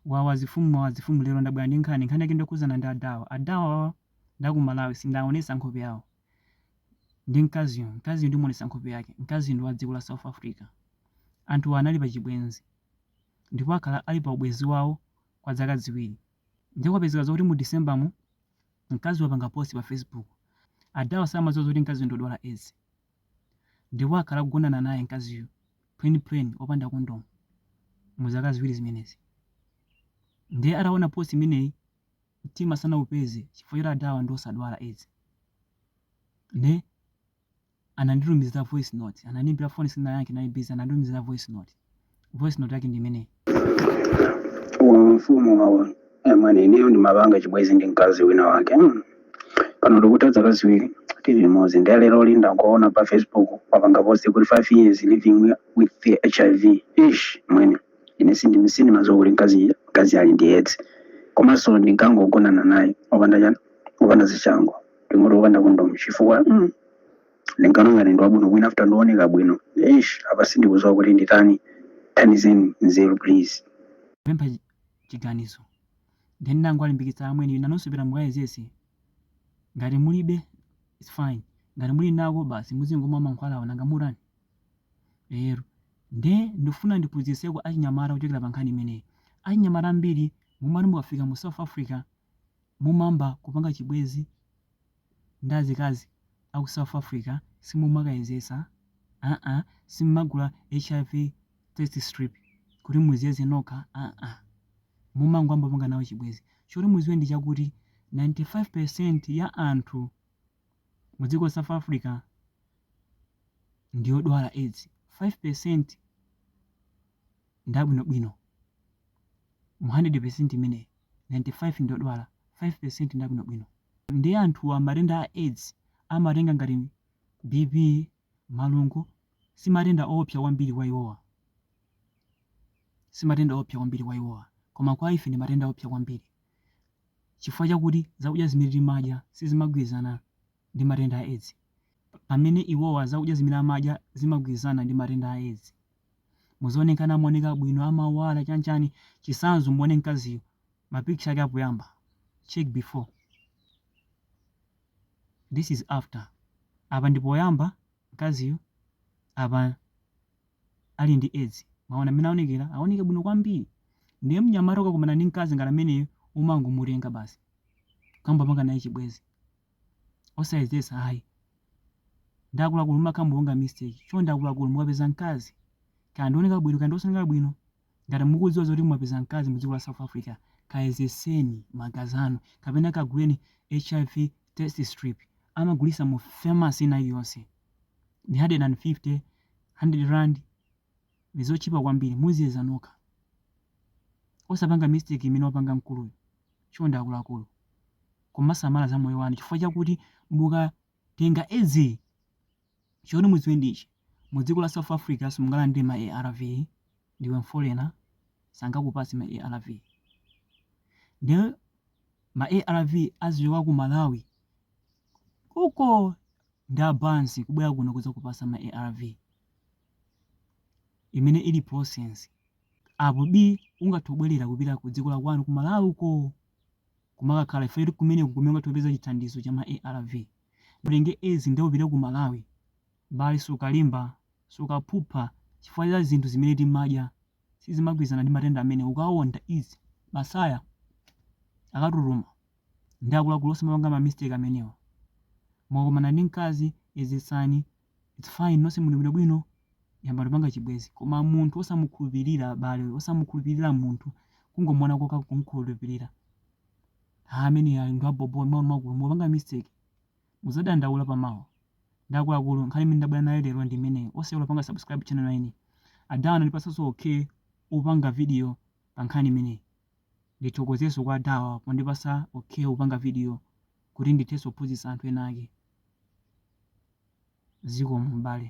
wawa azifumu wawa azifumu lero ndabwera ndi nkhani nkhani yake ndokhuzana ndi adawa adawawa nda ku malawi sindaonesa nkhope yawo ndi mkaziyo mkaziyo ndimuonesa nkhope yake mkaziyo ndi wa dziko la south africa anthuwa anali pa chibwenzi ndipo akhala ali pa ubwenzi wawo kwa dzaka ziwiri ndiye kwapezeka zokuti mu december mu mkazi wapanga post pa facebook adawa samadziwa zoti mkaziyo ndodwala aids ndipo akhala akugonana naye mkaziyo plain plain opanda condom mu zaka ziwiri zimenezi ndiye ataona post imeneyi mtima sanaupeze chifukwa choti adawa ndi osadwala aids nde ananditumizira voice note anandiimbira phone sinayankhe nali busy ananditumizira voice note voice note yake ndi imeneyi mfumu wawa amwene ineyo ndimapanga chibwezi ndi mkazi wina wake mm. pano tikutha zaka ziwiri tili limodzi ndiye lero linda kuona pa facebook wapanga post kuti 5 years living with the hiv eish amwene ine sindi sindimaziwa kuti mkazi mkazi ali ndi edzi komanso ndinkangogonana naye opanda chani opanda zishango ndingoti opanda kondomu chifukwa mm. Ndinkawona ngati ndi wabwinobwino after ndowoneka bwino eish apa sindikuziwa kuti nditani thandizeni nzeru please. Kupempha chiganizo then ndangowalimbikitsa amwene nanunso pita mukayezese ngati mulibe its fine ngati muli nako basi muzingomwa mankhwalawo nanga mutani lero nde ndikufuna ndiphunzitseko achinyamata kuchokera pa nkhani imeneyi achinyamata ambiri mumati mukafika mu south africa mumamba kupanga chibwezi ndi azikazi aku south Africa simumakayezetsa aa simmagula hiv test strip kuti muziyeze nokha aa mumangoambopanga nawo chibwezi choti muziwe ndi chakuti 95% ya anthu mu dziko la south Africa ndiyodwala aids 5% ndi abwinobwino mu 100% imeneyi 95 ndiyodwala 5% ndi abwinobwino. Ndiye anthuwa matenda a aids amatenga ngati BP, malungo, si matenda oopsa kwambiri kwa iwowa, koma kwa ife ndi matenda oopsa kwambiri chifukwa chakuti zakudya zimene timadya sizimagwirizana ndi matenda a aids pamene iwowa zakudya zimene amadya zimagwirizana ndi matenda a aids. muzooneka amaoneka bwino amawala chanchani chisanzo muone mkaziyo mapicture ake apoyamba check before this is after apa ndi poyamba mkaziyo apa ali ndi edzi mwaona mmene aonekera aoneka bwino kwambiri ndiye mnyamata ukakumana ndi mkazi ngati ameneyo umangomutenga basi kuyamba panga naye chibwezi osayezesa ayi ndi akuluakulu mumakhala mukupanga mistake chonde akuluakulu mukapeza mkazi kaya ndioneka bwino kaya ndiosaneka bwino ngati mukudziwa zoti mwapeza mkazi mu dziko la south africa kayezeseni magazi anu kapena kaguleni hiv test strip amagulisa mu pharmacy ina iliyonse ni 150 100 rand ndizotchipa kwambiri muziyeza nokha osapanga mistake imene wapanga mkuluyo chonde akuluakulu kumasamala za moyo wanu chifukwa chakuti mukatenga edzi choti mudziwe ndi ichi mu dziko la south africa simungalandire ma arv ndiwe mfolena sangakupatse ma arv ndiye ma arv azichoka ku malawi uko ndi abansi kubwera kuno kudzakupatsa ma arv imene ili process apo bi ungathe kungobwerera kupita ku dziko la kwanu ku malawi uko kumakakhala chifukwa choti kumeneko ndi kumene ungathe kupeza chithandizo cha ma arv mutenge edzi nde upite ku Malawi abale sukalimba sukaphupha chifukwa cha zinthu zimene timadya sizimagwirizana ndi matenda amenewa ukawonda izi masaya akatutuma ndi akuluakulu osamapanga ma mistake amenewa mukakumana ndi mkazi yezetsani It's fine nonse muli bwinobwino yambani kupanga chibwezi koma munthu osamukhulupirira abale osamukhulupirira munthu kungomuona koka kumkhulupirira ha amene ali ndi abobo akuluakulu mupanga mistake muzadandaula pamawa ndi akuluakulu nkhani imene ndabwera nayo lero ndi imeneyi osayiwala kupanga subscribe channel ine adawa anandipatsanso okay yopanga video pa nkhani imeneyi Ndithokozeso kwa aDawa pondipasa okey kupanga video kuti ndithenso kuphunzitsa anthu ena ake. Zikomo m'bale.